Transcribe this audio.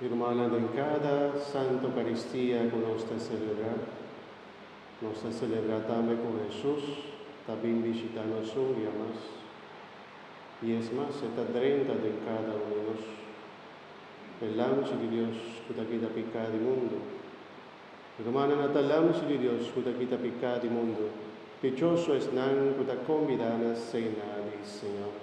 Hermannan den kada Santa Eukaristia ku nos ta selebrá, nos ta selebrá tambe ku Hesus ta bin bishitá nos un dia mas. I es mas, e ta drenta den kada un di nos. E Lamchi di Dios ku ta kita piká di mundu. Hermannan, ata Lamchi di Dios ku ta kita piká di mundu, dichoso esnan ku ta kombidá na Sena di Señor.